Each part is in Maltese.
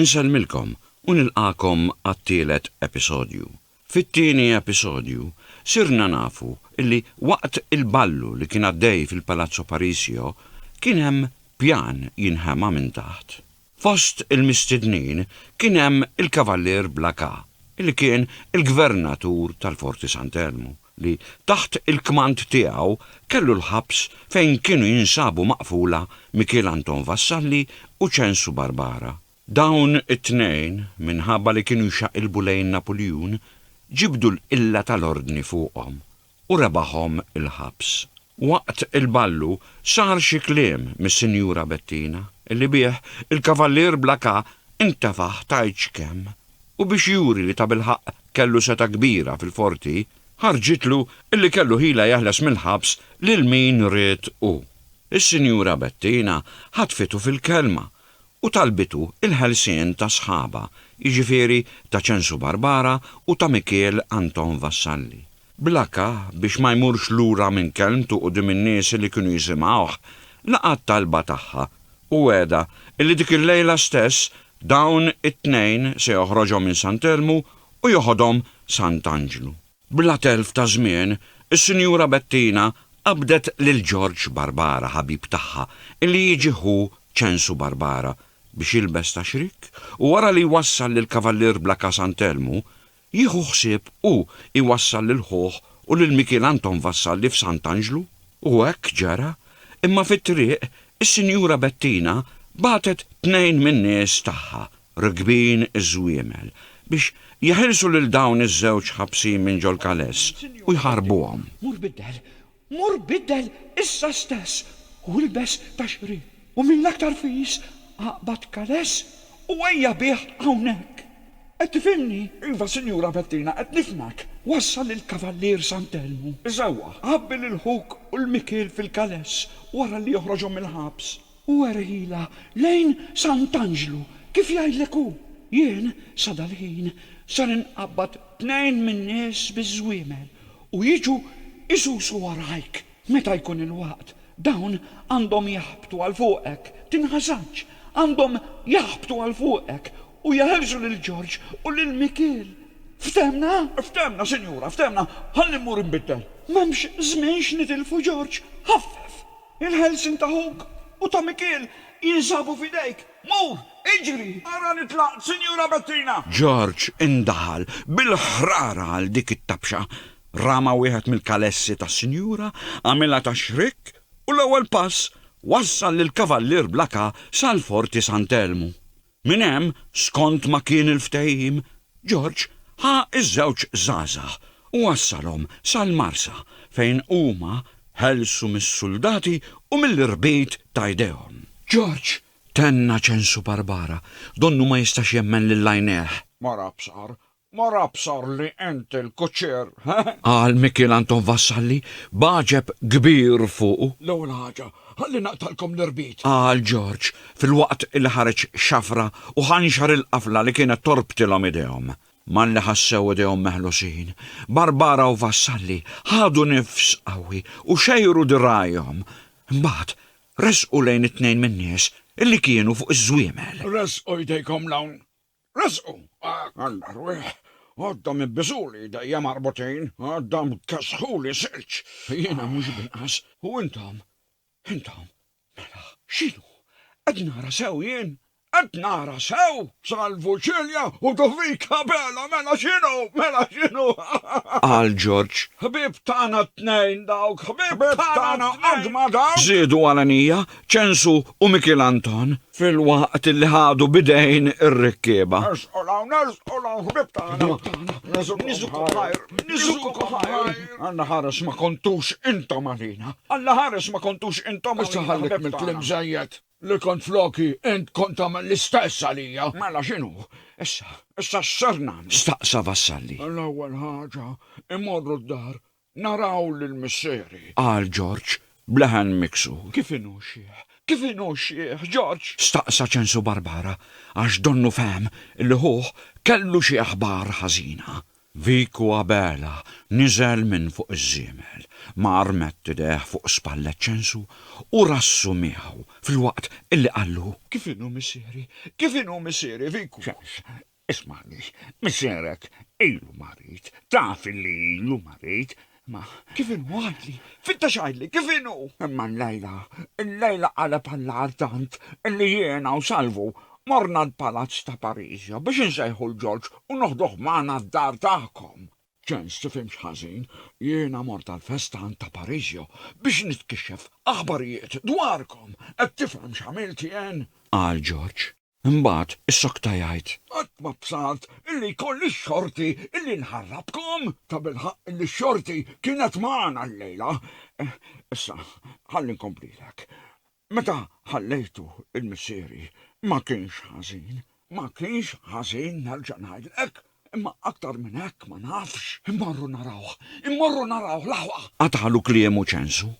Insellmilkom u nilqagħkom għat-tielet episodju. Fit-tieni episodju sirna nafu li waqt il-ballu li kien għaddej fil-Palazzo Parisio kien hemm pjan jinħema minn taħt. Fost il-mistednin kien hemm il-Kavallier Blacas li kien il-Gvernatur tal-Forti Sant'Elmu li taħt il-kmand tiegħu kellu l-ħabs fejn kienu jinsabu maqfula Mikiel Anton Vassalli u Ċensu Barbara. Dawn it-tnejn, minħabba li kienu jxaqilbu lejn Napuljun, ġibdu l-qilla tal-Ordni fuqhom u rebaħhom il-ħabs. Waqt il-ballu sar xi kliem mis-Sinjura Bettina, li bih il-Kavallier Blacas intefaħ tgħid x'kemm u biex juri li tabilħaqq kellu setgħa kbira fil-Forti, ħarġitlu li kellu ħila jeħles mill-ħabs lil min ried hu. Is-Sinjura Bettina ħatfitu fil-kelma u talbitu l-ħelsien ta' sħabha, jiġifieri ta' Ċensu Barbara u ta' Mikiel Anton Vassalli. Bla kah, biex ma jmurx lura minn kelmtu quddiem in-nies li kienu jisimgħuh, laqa' t-talba tagħha u wegħedha li dik il-lejla stess Dawn it-tnejn se joħroġhom minn Sant' Elmu u joħodhom Sant' Anġlu. Bla telf ta' żmien, is-Sinjura Bettina qabdet lil Ġorġ Barbara ħabib tagħha illi jiġi ħu Ċensu Barbara biex jilbes ta' xrik u wara li jwassal lill-Kavallier Blacka Sant' Elmu, Jieħu ħsieb u jwassal lil ħuh u lil Mikiel Anton Vassalli f'Sant'Anġlu. U hekk ġara, imma fit-triq, is-Sinjura Bettina bagħtet tnejn min-nies tagħha, rkbin iż-żwiemel, biex jeħilsu lil dawn iż-żewġ ħabsin minn ġol-Kales u jħarbuhom. Mur biddel issa stess u ilbes taxrid, u mill-aktar fis aqbad kales u ejja bih hawnhekk. Qed tifhimni? Iva, Sinjura Bettina, qed nifhmek. Wassal lill-Kavallier Sant'Elmu. Isewwa, għabbi lil ħuk u l-mikiel fil-kales wara li joħroġhom mill-ħabs. U erħilha lejn Sant'Anġlu, kif jgħidlek hu. Jien, sa dal-ħin, ser inqabbad tnejn min-nies biż-żwiemel u jiġu jsusu warajk. Meta jkun il-waqt, dawn għandhom jaħbtu għal fuqek, tinħasadx, għandhom jaħbtu għal fuqek u jeħilsu lil Ġorġ u lil Mikiel. Ftehmna? Ftehmna, sinjura, ftehmna. Ħalli mmur inbiddel. M'hemmx żmien x'nitilfu, Ġorġ, ħaffef! Il-ħelsien ta' ħuk u ta' Mikiel jinsabu f'idejk. Mur, iġri! Ara li tlaqt, Sinjura Bettina! George indaħal bil-ħrara għal dik it-tabxa. Rama wieħed mill-kalessi tas-Sinjura, għamilha ta' xrikk u l-ewwel pass wassal lill-Kavallier Blakà sal-Forti Sant'Elmu. Minn hemm, skont ma kien il-ftehim, George ħa ż-żewġ żgħażagħ u wassalhom sal-Marsa fejn huma ħelsu mis-suldati u mill-irbit ta' jdejhom. George, tenna Ċensu Barbara, donnu ma jistax jemmen lil għajnejh. Mara b'saqar, Ma rabsar li int il-kuċċier, heh? Qal Mikiel Anton Vassalli b'għaġeb kbir fuqu. L-ewwel ħaġa, ħalli naqtgħalkom l-irbit. Qal George filwaqt li ħareġ xafra u ħa nxar il-qafla li kienet torbtilhom idejhom. Malli ħassew idejhom meħlusin, Barbara u Vassalli ħadu nifs qawwi u xejru dirgħajhom. Imbagħad resqu lejn it-tnejn min-nies li kienu fuq iż-żwiemel. Ressqu jdejkom 'l hawn, Resqu! Alla rwieħ! Għoddhom ibbiżuli idejja marbutin, għoddhom kessħuli silġ! Jiena mhux b'inqas! U intom? Intom? Mela, x'inhu? Qed nara sew jien? Qed nara sew? Salvu Celia u Dovica Bela, mela x'inhu? Mela x'inhu? Qal Ġorġ. Ħbieb tagħna t-tnejn dawk, ħbieb tagħna qatt ma dawk! Żiedu għal għenija, Ċensu u Mikiel Anton filwaqt li ħadu b'idejn ir-rikkieba. Alla ħares ma kontux intom għalina. Alla ħares ma kontux intom għalina. Issa ħallik mill-kliem żejjed li kont floki int kont tagħmel l-istess għalija. Mela x'inhu issa? Issa x'ser nagħmel? Staqsa Vassalli. L-ewwel ħaġa immorru d-dar Naraw lil missieri! Qal Ġorġ b'leħen miksur. Kif inhu xiħ? Kif inhu xiħ, Ġorġ? Staqsa Ċensu Barbara għax donnu fehem li ħuh kellu xi aħbar ħażina. Vico Abela niżel minn fuq iż-żiemel, mar mett idejh fuq spallet Ċensu u rassu miegħu filwaqt illi qallu. Kif inhu missieri? Kif inhu missieri, Vico? Ċens, Ismagħni, missierek ilu marid, taf illi ilu marid, imma. Kif inhu, għidli, fittex għidli, kif inhu? Imma llejla, llejla qaleb għall-agħar tant illi jiena u Salvu morna l-palazz ta' Parisia biex insejħu 'l Ġorġ u noħduh magħna d-dar tagħkom. Ċens, tifhimx ħażin, jiena mort għall-festa għand ta' Parisio biex nitkixxef aħbarijiet dwarkom, qed tifhem x'għamilt jien? Qal Ġorġ. Imbagħad issokta jgħid. Qatt ma bsart illi jkolli x-xorti illi nħarrabkom! Tabilħaqq illi x-xorti kienet magħna llejla. Issa, ħalli nkomplilek. Meta ħallejtu l-missieri, ma kienx ħażin. Ma kienx ħażin, nerġa' ngħidlek. Imma aktar minn hekk ma nafx. Immorru narawh! Immorru narawh l-aħwa! Qatagħlu kliemu Ċensu.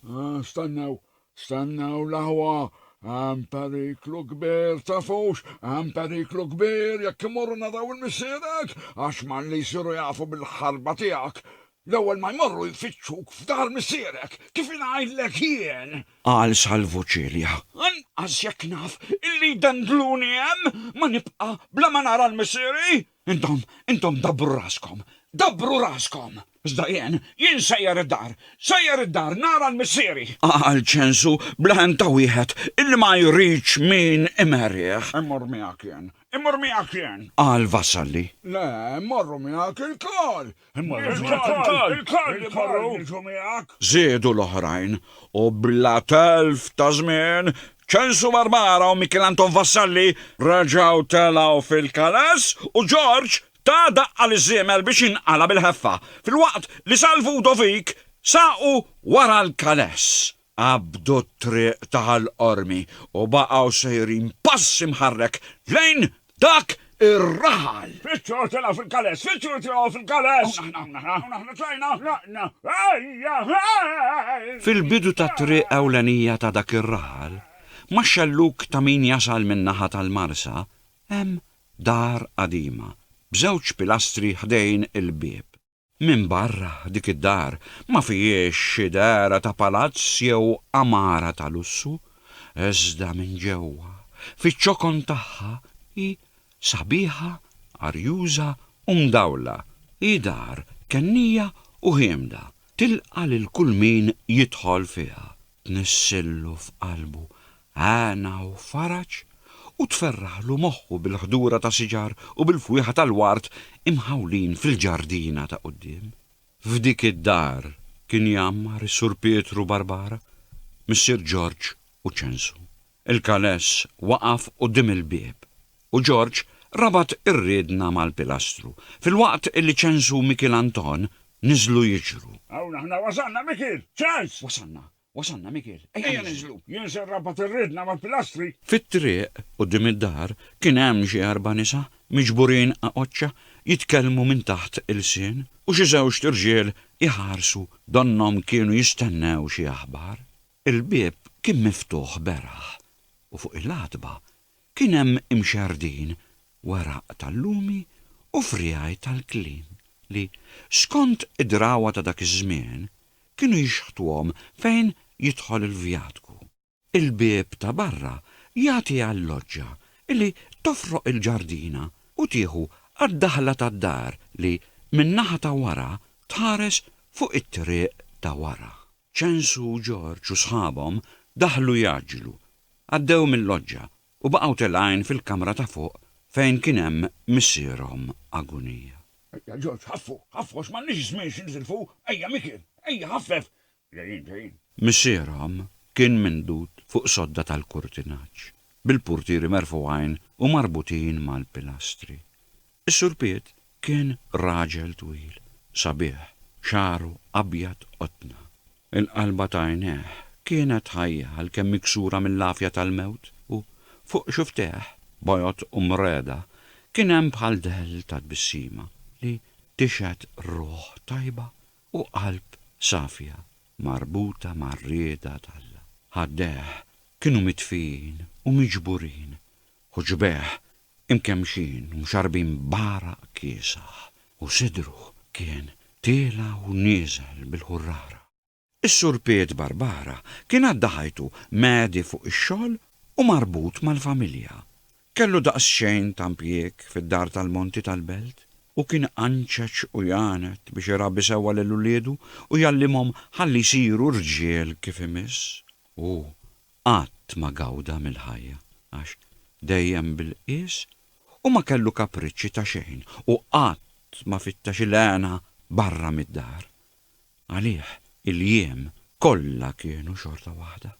Stennew, Stennew l-aħwa, hemm periklu kbir, tafux, hemm periklu kbir jekk imorru naraw il-missierek, għax malli jsiru jafu bil-ħarba tiegħek, l-ewwel ma jmorru jfittxuk f'dar missierek, kif ingħidlek jien! Qal Salvu Cilia, Anqas jekk naf illi jdendluni hemm, ma nibqa' bla ma nara l-missieri! Intom, intom dabbru raskom, dabbru raskom! Iżda jien, jien sejjer id-dar, sejjer id-dar nara l-missieri! Qal Ċensu bla hemm ta' wieħed illi ma jridx min imerrih. Immur miegħek jien, immur miegħek jien! Qal Vassalli. Le, mmorru miegħek ilkoll! Żiedu l-oħrajn u bla telf ta' żmien, Ċensu Barbara u Mikiel Anton Vassalli reġgħu telgħu fil-kales u Ġorġ ta daqqa liż-żiemel biex jinqala' bil-ħeffa, filwaqt li Salvu u Dovik saqu wara l-kales. Qabdu t-triq ta' Ħal Qormi u baqgħu sejrin pass imħarrek lejn dak ir-raħal. Fittxu tilgħu fil-kales! Fittxu tilgħu fil-kales! Hawn aħna, hawn aħna, hawn aħna tlajna! Tlaqna! Ejja, ħej! Fil-bidu tat-triq ewlenija ta' dak ir-raħal, max-xellug ta' min jasal min-naħa tal-Marsa, hemm dar qadima, b'żewġ pilastri ħdejn il-bieb. Minbarra dik id-dar ma fihiex xi dehra ta' palazz jew għamara ta' lussu, iżda minn ġewwa, fiċ-ċokon tagħha, hi sabiħa, arjuża u mdawla. Hi dar kennija u ħiemda, tilqa' lil kull min jidħol fiha. tnisssillu f'qalbu hena u faraġ u tferraħlu moħħu bil-ħdura ta' siġar u bil-fwieħa tal-ward imħawlin fil-ġardina ta' quddiem. F'dik id-dar kien jgħammar is-Sur Pietru Barbara, missier Ġorġ u Ċensu. Il-Kaless waqaf quddiem il-bieb u Ġorġ rabat ir-riedna mal-pilastru filwaqt li Ċens u Mikiel Anton niżlu jiġru. Hawn aħna wasalna, Mikiel! Ċens! Wasalna, wasalna, Mikiel. Ejja ninżlu! Jien se nrabat ir-riedna mal-pilastri. Fit-triq quddiem id-dar kien hemm xi erba' nisa miġburin għaqoċċa jitkellmu minn taħt ilsien u xi żewġt irġiel iħarsu donnhom kienu jistennew xi aħbar. Il-bieb kien miftuħ beraħ u fuq il-għatba kien hemm imxerrdin weraq tal-lumi u friegħi tal-kliem li, skont id-drawwa ta' dak iż-żmien, kienu jixħtuhom fejn jidħol il-vjatku. Il-bieb ta' barra jagħti għal-loġġa li tofroq il-ġardina u tieħu għad-daħla tad-dar li, min-naħa ta' wara, tħares fuq it-triq ta' wara. Ċensu, Ġorġ u sħabhom daħlu jgħaġġlu. Għaddew mil-loġġa u baqgħu telgħin fil-kamra ta' fuq fejn kien hemm missierhom Agunija. Ejja, Ġorġ, ħaffu, ħaffu għax m'għandniex żmien xi nitilfu. Ejja, Mikiel, ejja, ħaffef! Ġejjin, ġejjin. Missierhom kien mindud fuq sodda tal-kurtinaġġ, bil-purtieri merfugħin u marbutin mal-pilastri. Is-Sur Piet kien raġel twil, sabiħ, xagħru abjad qotna. Il-qalba ta' għajnejh kienet ħajja għalkemm miksura mill-għafja tal-mewt u, fuq xufftejh, bojod u mreda, kien hemm bħal dell ta' tbissima li tixhed ruħ tajba u qalb safja marbuta mar-rieda t'Alla. Ħaddejh kienu mitfijin u miġburin u ġbejh imkemmxin u mxarrbin b'għaraq kiesaħ, u sidru kien tiela' u nieżel bil-ħurrara. Is-Sur Piet Barbara kien għadda ħajtu mgħedi fuq ix-xogħol u marbut mal-familja. Kellu daqsxejn ta' mpjieg fid-dar tal-monti tal-belt u kien iqanċeċ u jgħanet biex irabbi sewwa lil uliedu u jgħallimhom ħalli jsiru rġiel kif imiss. Hu qatt ma gawda mill-ħajja għax dejjem bil-qies u ma kellu kapriċċi ta' xejn u qatt ma fittex il-hena barra mid-dar. Għalih il-jiem kollha kienu xorta waħda.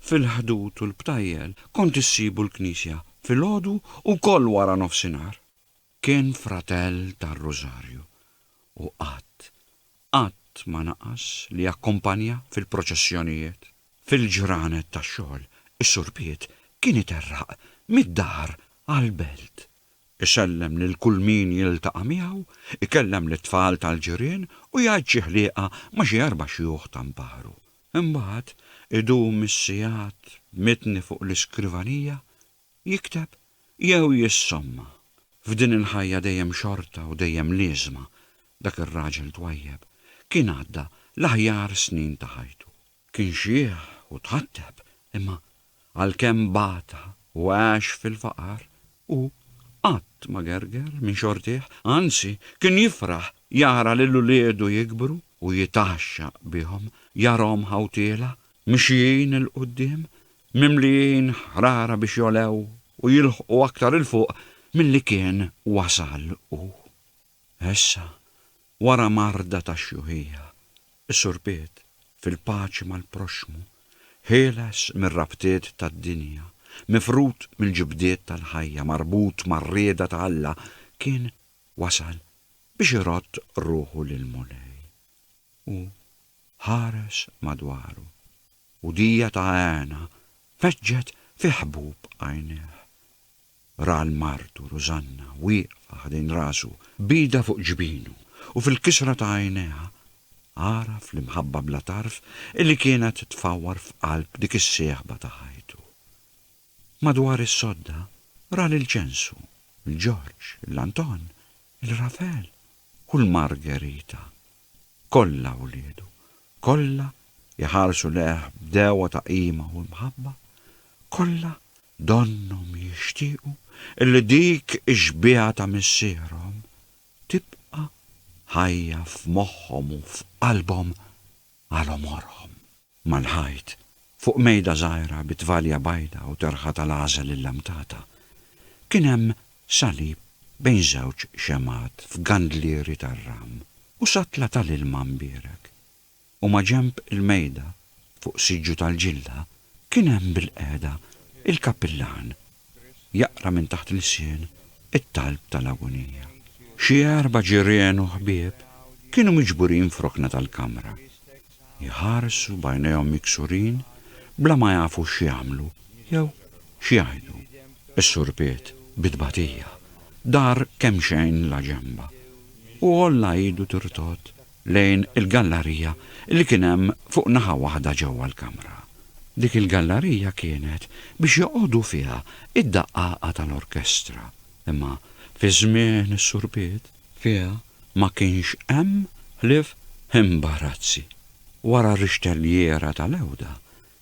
Fil-ħdud u l-btajjel kont issibu l-knisja filgħodu u wkoll wara nofsinhar. Kien fratell tar-Rużarju u qatt, qatt ma naqas li jakkumpanja fil-proċessjonijiet. Fil-ġranet tax-xogħol, is-Sur Piet kien iterraq mid-dar għall-belt, isellem lil kull min jiltaqa' miegħu, ikellem lit-tfal tal-ġirien u jgħid xi ħlieqa ma' xi erba' xjuħ ta' nparu. Imbagħad idum is-sigħat b'mitni fuq l-iskrivanija jikteb jew jissomma f'din il-ħajja dejjem xorta u dejjem liesma dak ir-raġel twajjeb kien għadda l-aħjar snin ta' ħajtu. Kien xiħ u tħatteb imma għalkemm bata u għax fil-faqar hu qatt ma gerger minn xortih, anzi kien jifraħ jara lil uliedu jikbru u jitgħaxxaq bihom jarahom ħawtiela mixjin 'il quddiem mimlijin ħrara biex jogħlew u jilħqu aktar 'il fuq milli kien wasal hu. Issa, wara marda ta' xjuħija, is-Sur Piet, fil-paċi mal-proxxmu, ħieles mir-rabtiet tad-dinja, mifrud mill-ġibdiet tal-ħajja, marbut mar-rieda ta' Alla, kien wasal biex irodd ruħu lill-Mulej. Hu ħares madwaru. u dija ta' hena feġġet fi ħbub għajnejh. Ra 'l martu Rużanna wieqfa ħdejn rasu b'idha fuq ġbinu u fil-kisra ta' għajnejha għaraf l-imħabba bla tarf illi kienet tfawwar f'qalb dik is-sieħba ta' ħajtu. Madwar is-sodda ra lil Ġensu, il-Ġorġ, il-Anton, il-Rafel u l-Margerita. Kollha wliedu, kollha jħarsu lejh b'degħwa ta' qima u mħabba, kollha donnhom jixtiequ illi dik ix-xbieha ta' missierhom tibqa' ħajja f'moħħhom u f'qalbhom għal għomorhom. mal-ħajt, fuq mejda żgħira bi tvalja bajda u terħa tal-għażel illamtata, kien hemm salib bejn żewġ xemgħat f'gandlieri tar-ram u satla tal-ilma mbierek, u maġenb il-mejda, fuq siġġu tal-ġilla, kien hemm bilqiegħda il-kappillan jaqra minn taħt lsien it-talb tal-agunija. Xi erba' ġirien u ħbieb kienu miġburin f'rokna tal-kamra, jħarsu b'għajnejhom miksurin bla ma jafu x'jagħmlu jew x'jgħidu. Is-surpiet, bi tbatija, dar kemxejn la ġenba u għolla idu tirtod lejn il-gallarija li kien hemm fuq naħa waħda ġewwa l-kamra. Dik il-gallarija kienet biex joqogħdu fiha d-daqqaqa tal-orkestra, imma fi żmien is-Sur Piet, fiha ma kienx hemm ħlief imbarazzi. Wara r-rixtelliera tal-għewda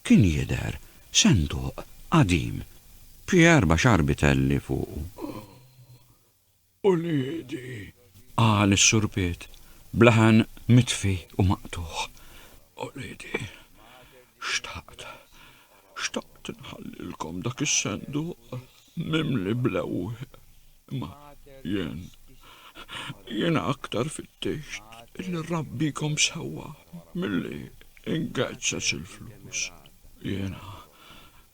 kien jidher senduq qadim b'xi erba' xarbi telli fuqu. Uliedi! qal is-Sur Piet, b'laħan mitfi u maqtugħ. Uliedi! Xtaqt, xtaqt nħallilkom dak is-senduq mimli bl-ewwieq, imma jien, jiena aktar fittixt illi nrabbikom sewwa milli nghezzez il-flus. Jiena,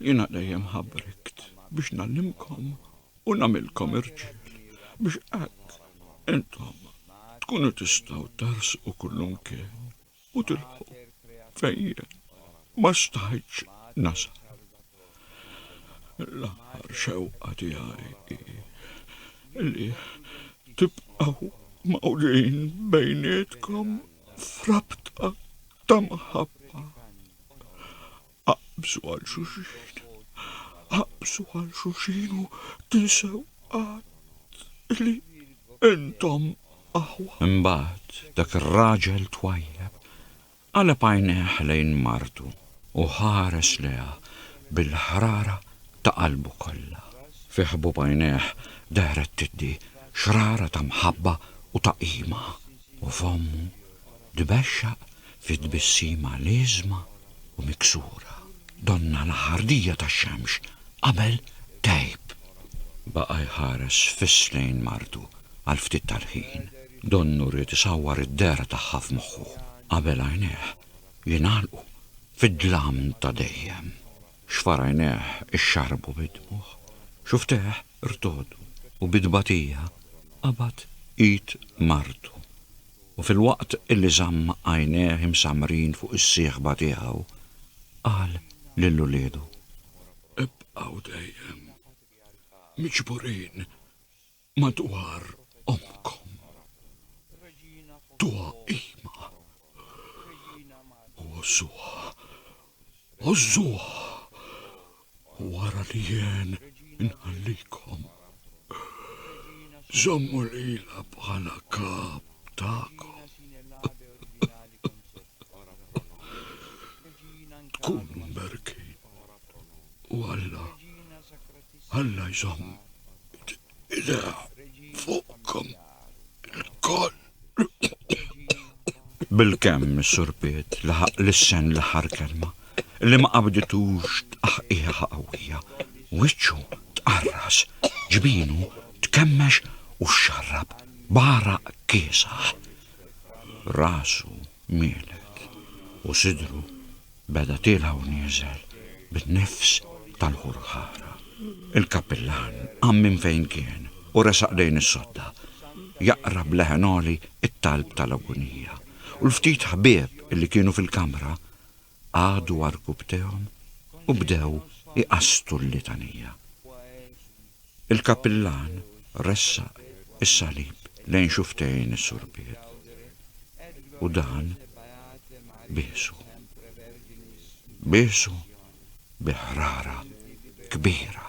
jiena dejjem ħabrikt biex ngħallimkom U nagħmilkom irġiel, biex hekk intom tkunu tistgħu tersqu kullimkien u tilħqu fejn jien ma stajtx nasal. L-aħħar xewqa tiegħi hi li tibqgħu mgħawdin bejnietkom f'rabta ta' mħabba. Aqbżu għal xulxin, aqbżu għal xulxin u tinsew qatt li intom aħwa. Imbagħad dak ir-raġel twajjeb qaleb għajnejh lejn martu u ħares lejha bil-ħrara ta' qalbu kollha. Fi ħbub għajnejh dehret tiddi xrara ta' mħabba u ta' qima. u fommu tbexxaq fi tbissima liesma u miksura. Donna l-ħardija tax-xemx qabel tgħib. Baqa' jħares fiss lejn martu għal ftit tal-ħin. Donnu ried isawwar id-dehra tagħha f'moħħu qabel għajnejh jingħalqu fid-dlam ta' dejjem. Xfar għajnejh ixxarrbu bid-dmugħ, xuftejh irtogħdu u bi tbatija qabad id martu. U filwaqt li żamm għajnejh imsammrin fuq is-sieħba tiegħu, qal lil uliedu, Ibqgħu dejjem miġburin Madwar ommkom, tuha qima, u għożżuha, għożżuha, wara li jien inħallikom. Żommu lilha bħala kap tagħkom. Tkunu mberkin u Alla Alla jżomm idea fuqkom il-koll. Bil-kemm is-Sur Piet laħaq lissen l-aħħar kelma li ma qabditux tqaħqieħa qawwija. Wiċċu tqarras, ġbinu tkemmex u xxarrab b'għaraq kiesaħ. Rasu mielet u sidru Beda tiela' u nieżel bin-nifs tal-ħurħara. Il-kappillan qam minn fejn kien u resaq lejn is-sodda, jaqra b'leħen għoli t-talb tal-agunija, u l-ftit ħbieb li kienu fil-kamra qagħdu għarkubtejhom u bdew iqasstu l-litanija. Il-Kappillan ressaq is-salib lejn xufftejn is-Surpiet u dan biesu. Biesu bi ħrara kbira.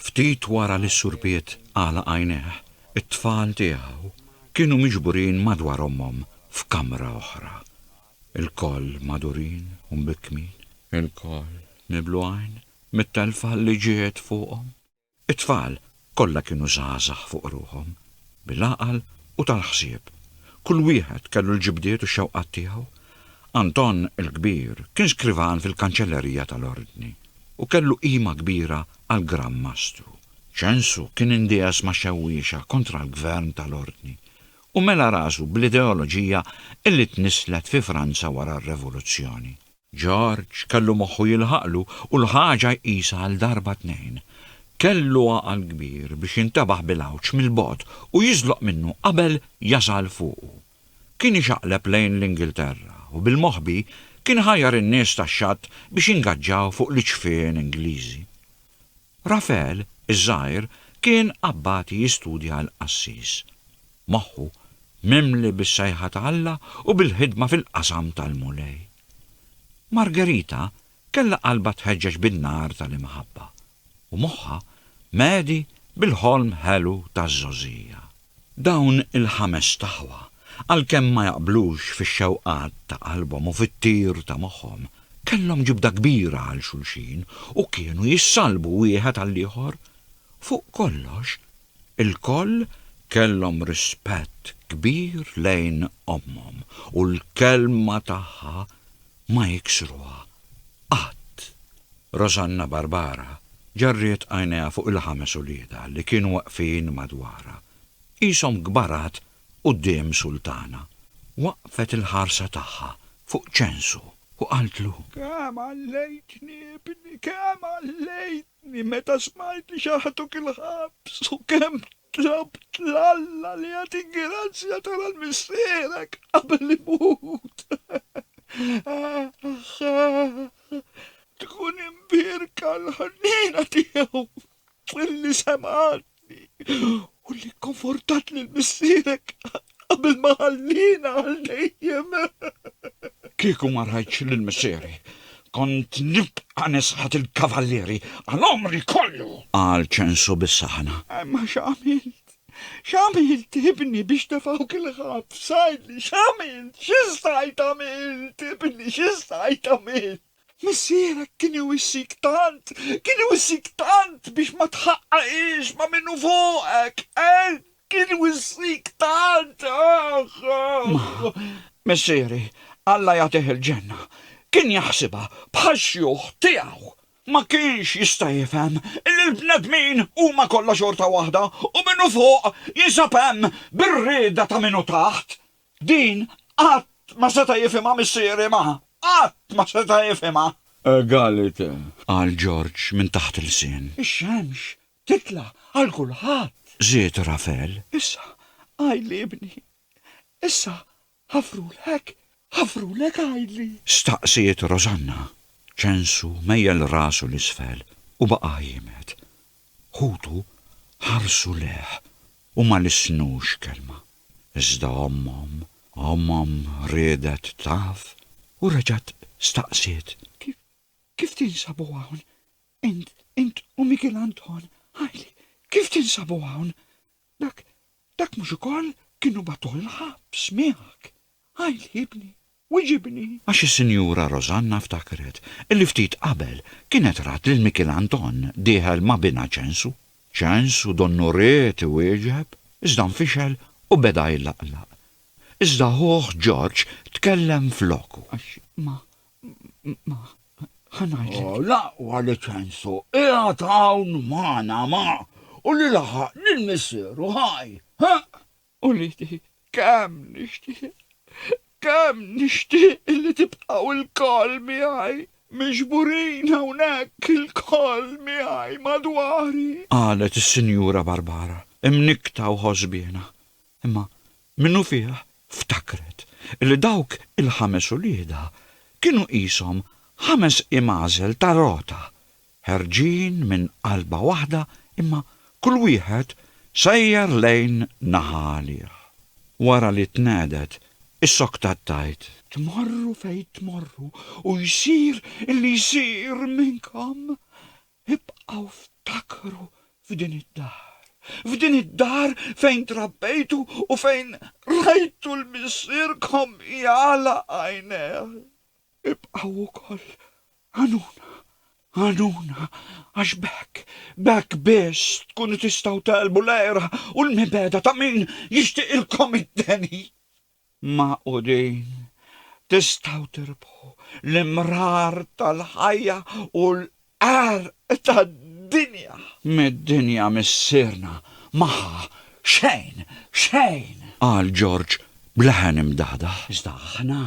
Ftit wara li s-surbiet għalaq għajnejh, it-tfal tiegħu kienu miġburin madwar ommhom f'kamra oħra. Ilkoll magħdurin u mbikkmin. Ilkoll niblu għajn mit-telfa li ġiet fuqhom. It-tfal Kollha kienu żgħażagħ fuq ruħhom, bil-għaqal u tal-ħsieb. Kull wieħed kellu l-ġibdiet u x-xewqat tiegħu. Anton il-Kbir kien skrivan fil-kanċellerija tal-Ordni u kellu qima kbira għall-Gran Mastru. Ċensu kien indiegħes ma' xewwiexa kontra l-gvern tal-Ordni u mela rasu bl-ideoloġija li tnisslet fi Franza wara r-Revoluzzjoni. George kellu moħħu jilħaqlu u l-ħaġa jqisha għal darba tnejn. Kellu għaqal kbir biex jintebaħ bil-għawġ mill-bogħod u jiżloq minnu qabel jasal fuqu. Kien ixaqleb lejn l-Ingilterra u bil-moħbi kien ħajjar in-nies tax-xatt biex jingaġġaw fuq l-iċfien Ingliżi. Rafael iż-żgħir kien abbati jistudja l-qassis, moħħu mimli bis-sejħa ta' Alla u bil-ħidma fil-qasam tal-Mulej. Margherita kellha qalbha tħeġġeġ bin-nar tal-imħabba, u moħħha mhedi bil-ħolm ħelu taż-żgħożija. Dawn il-ħamest aħwa, għalkemm ma jaqblux fix-xewqat ta' qalbhom u fit-tir ta' moħħhom, kellhom ġibda kbira għal xulxin u kienu jissallbu wieħed għall-ieħor. Fuq kollox, ilkoll kellhom rispett kbir lejn ommhom u l-kelma tagħha ma jiksruha qatt. Rosanna Barbara ġarriet għajnejha fuq il-ħames uliedha li kienu waqfin madwarha, qishom kbarat quddiem Sultana. Waqqfet il-ħarsa tagħha fuq ċensu u qaltlu. Kemm għallejtni, ibni, kemm għallejtni meta smajt li xaħtuk il-ħabs u kemm Tlabt 'l Alla li jagħtik grazzja tara l-missierek qabel imut. Aħ, aħ, tkun imbierka l-ħniena tiegħu li semgħatni u li kkonfortat lil missierek Qabel ma ħallina għal dejjem. Kieku ma rajtx lil missieri, kont nibqa' nisħat il-kavallieri għal għomri kollu! Qal Ċensu bis-saħħna. Imma x'għamilt? X'għamilt, ibni, biex tefgħuk il-ħabs? Għidli, x'għamilt? Xi stajt għamilt, ibni, xi stajt għamilt? Missierek kien iwissik tant, kien iwissik tant biex ma tħaqqaqiex ma' min hu fuqek, eh? Kien wissik tant, aħ! Missieri, Alla jagħtih il-ġenna, kien jaħsibha bħax-xjuħ tiegħu. Ma kienx jista' jifhem li l-bnedmin huma kollha xorta waħda u min hu fuq jinsab hemm bir-rieda ta' min hu taħt. Din qatt ma seta' jifhimha missieri ma, qatt ma seta' jifhimha. Egalite! qal Ġorġ minn taħt ilsien. Ix-xemx titla' għal kulħadd. Żied Rafel. Issa, Għajli ibni, issa ħafrulek, ħafrulek Għajli! Staqsiet Rosanna. Ċensu mejjel rasu 'l isfel u baqa' jiemed. Ħutu ħarsu lejh u ma lissnux kelma. Iżda ommhom, ommhom riedet taf u reġgħet staqsiet. Kif tinsabu hawn? Int, int u Mikiel Anton, ħajli, kif tinsabu hawn? Dak, dak mhux ukoll kienu batuh l-ħabs miegħek? Ħajli ibni, wiġibni! Għax is-Sinjura Rosanna ftakret li ftit qabel kienet rat lil Mikiel Anton dieħel ma' binha Ċensu. Ċensu donnu ried iwieġeb, iżda nfixel u beda jlaqlaq. Iżda ħuh Ġorġ tkellem floku. Għax ma, Ma, ħanajt. Oh, laqwa li ċensu, iħat hawn maħna ma, u li laħaq lil missieru ħaj, ha? U li ti kemm nixtieq, kemm nixtieq li tibqgħu il-koll miegħi, miġburin hawnhekk il-koll miegħi madwari. Qalet is-Sinjura Barbara, imnikta u ħosbiena. Imma minnufih ftakret li dawk il-ħames uliedha kienu qishom ħames imagħżel ta' rota, ħerġin minn qalba waħda imma kull wieħed sejjer lejn naħa għalih. Wara li tnegħdet, issoktat tgħid. Tmorru fejn tmorru u jsir li jsir minnkom, Ibqgħu ftakru f'din id-dar, f'din id-dar fejn trabbejtu u fejn rajtu 'l missierkom jagħlaq għajnejh. Ibqgħu wkoll għanuna, għanuna, għax b'hekk, b'hekk biss tkunu tistgħu tegħlbu l-għira u l-mibegħda ta' min jixtiqilkom id-deni. magħqudin, tistgħu tirbħu l-imrar tal-ħajja u l-qerq tad-dinja. Mid-dinja missierna ma ħa xejn, xejn! qal Ġorġ b'leħen imdahdah. Iżda aħna,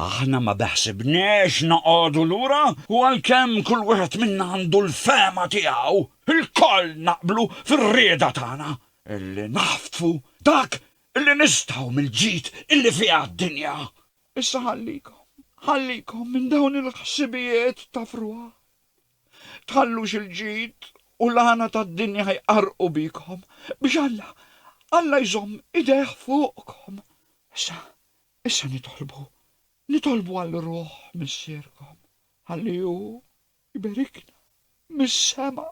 aħna ma beħsibniex noqogħdu lura u għalkemm kull wieħed minna għandu l-fehma tiegħu, ilkoll naqblu fir-rieda tagħna illi naħtfu dak Illi nistgħu mill-ġid illi fiha d-dinja. Issa ħallikom, ħallikom minn dawn il-ħsibijiet ta' frugħ. Tħallux il-ġid u l-għana tad-dinja jqarrqu bikom, biex Alla, Alla jżomm idejh fuqkom. Issa, issa nitolbu, nitolbu għall-Ruħ Missierkom, ħalli Hu, Iberikna mis-sema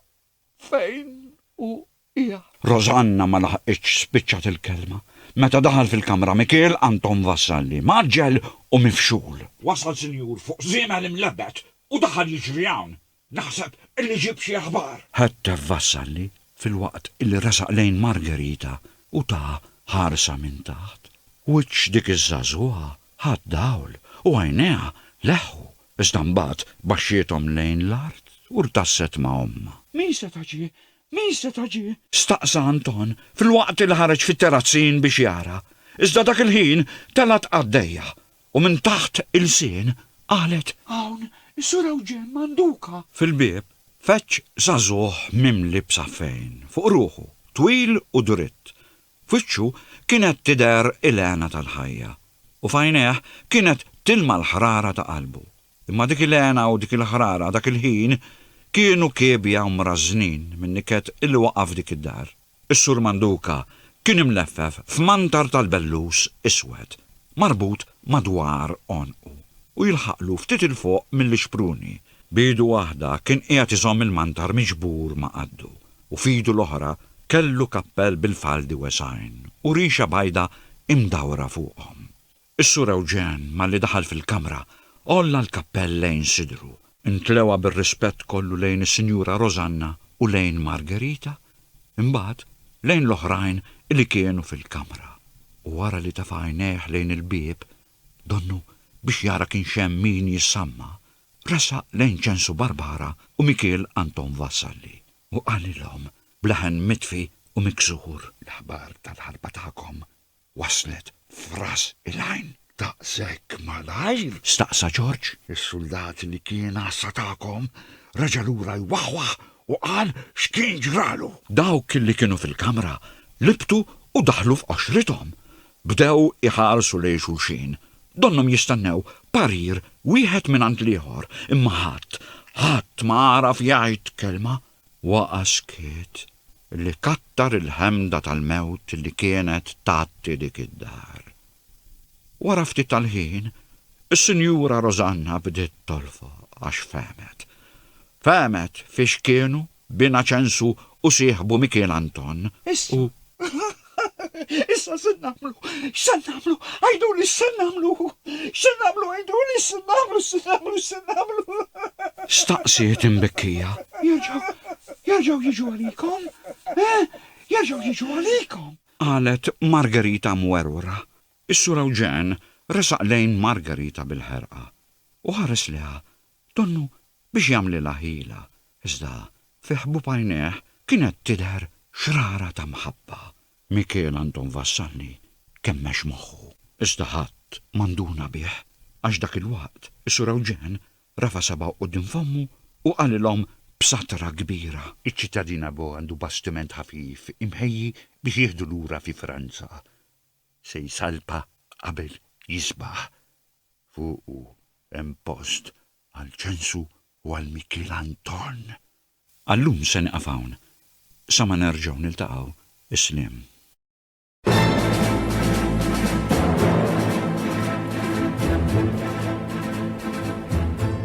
fejn hu qiegħed. Rosanna ma laħqitx spiċċat il-kelma meta daħal fil-kamra Mikiel Anton Vassalli, mgħaġġel u mifxul. Wasal sinjur fuq żiemel imlebbed u daħal jiġri hawn. Naħseb li ġieb xi aħbar. Ħettef Vassalli filwaqt li resaq lejn Margherita u taha ħarsa minn taħt. Wiċċ dik iż-żagħżugħa ħa d-dawl u għajnejha leħħu Iżda mbagħad baxxiethom lejn l-art u rtasset ma' ommha. Min se ta' ġie? Min se ta' ġie? Staqsa Anton filwaqt li ħareġ fit-terrazzin biex jara, iżda dak il-ħin telgħet qaddejja u minn taħt ilsien qalet. Hawn is-Sur Ewġen Manduca! Fil-bieb feġġ żagħżugħ mimli b'safejn fuq ruħu, twil u dritt, F'wiċċu kienet tidher il-hena tal-ħajja, u f'għajnejh kienet tilma' l-ħrara ta' qalbu. Imma dik il-hena u dik il-ħrara dak il-ħin kienu kiebja u mrażżnin min-niket li waqa' f'dik id-dar. Is-Sur Manduka kien imleffef f'mantar tal-bellus iswed marbut madwar għonqu u jilħaqlu ftit 'il fuq mill-ixpruni. B'idu waħda kien qiegħed iżomm il-mantar miġbur ma' qaddu, u f'idu l-oħra kellu kappell bil-faldi wesgħin u rixa bajda imdawra fuqhom. Is-Sur Ewġen malli daħal fil-kamra għolla l-kappell lejn sidru, intlewa bir-rispett kollu lejn is-Sinjura Rożanna u lejn Margherita, imbagħad lejn l-oħrajn li kienu fil-kamra, u wara li tefa' għajnejh lejn il-bieb Donnu, biex jara kienx hemm min jissamma, ressaq lejn Ċensu Barbara u Mikiel Anton Vassalli u qalilhom b'leħen mitfi u miksur. L-aħbar tal-ħarba tagħkom waslet f'ras il-għajn. Daqshekk malajr? staqsa Ġorġ. Is-suldat li kien għassa tagħkom reġa' lura jwaħwaħ u qal x'kien ġralu. Dawk li kienu fil-kamra libtu u daħlu f'qoxrithom. Bdew iħarsu lejn xulxin. Donnhom jistennew parir wieħed mingħand l-ieħor, imma ħadd, ħadd ma għaraf jgħid kelma. Waqa' skiet li kattar il-ħemda tal-mewt li kienet tgħatti dik id-dar. Wara ftit tal-ħin, is-Sinjura Rosanna bdiet tolfoq għax fehmet. Fehmet fiex kienu b'Inaċensu u sieħbu Mikiel Anton, u. Issa, issa x'se nagħmlu? X'se nagħmlu? Għiduli x'se nagħmlu? X'se nagħmlu għiduli x'se nagħmlu x'se nagħmlu x'se nagħmlu? staqsiet imbekkija. Jerġgħu, jerġgħu jiġu għalikom, eh, jerġgħu jiġu għalikom! qalet Margherita mwerwra. Is-Sur Eugen resaq lejn Margherita bil-ħerqa u ħares leha Donnu biex jagħmlilha ħila, iżda fi ħbub għajnejh kienet tidher xrara ta' mħabba. Mikiel Anton Vassalli kemmex moħħu, iżda ħadd ma nduna bih għax dak il-waqt is-Sur Ewġen rafa' sabgħu quddiem fommu u qalilhom b'satra kbira. Iċ-ċittadina Bo għandu bastiment ħafif imħejji biex jieħdu lura fi Franza. Se jsalpa qabel jisbaħ. Fuqu hemm post għal Ċensu u għal Mikiel Anton. Għal-lum se nieqaf hawn. Sa ma nerġgħu niltaqgħu, is-sliem.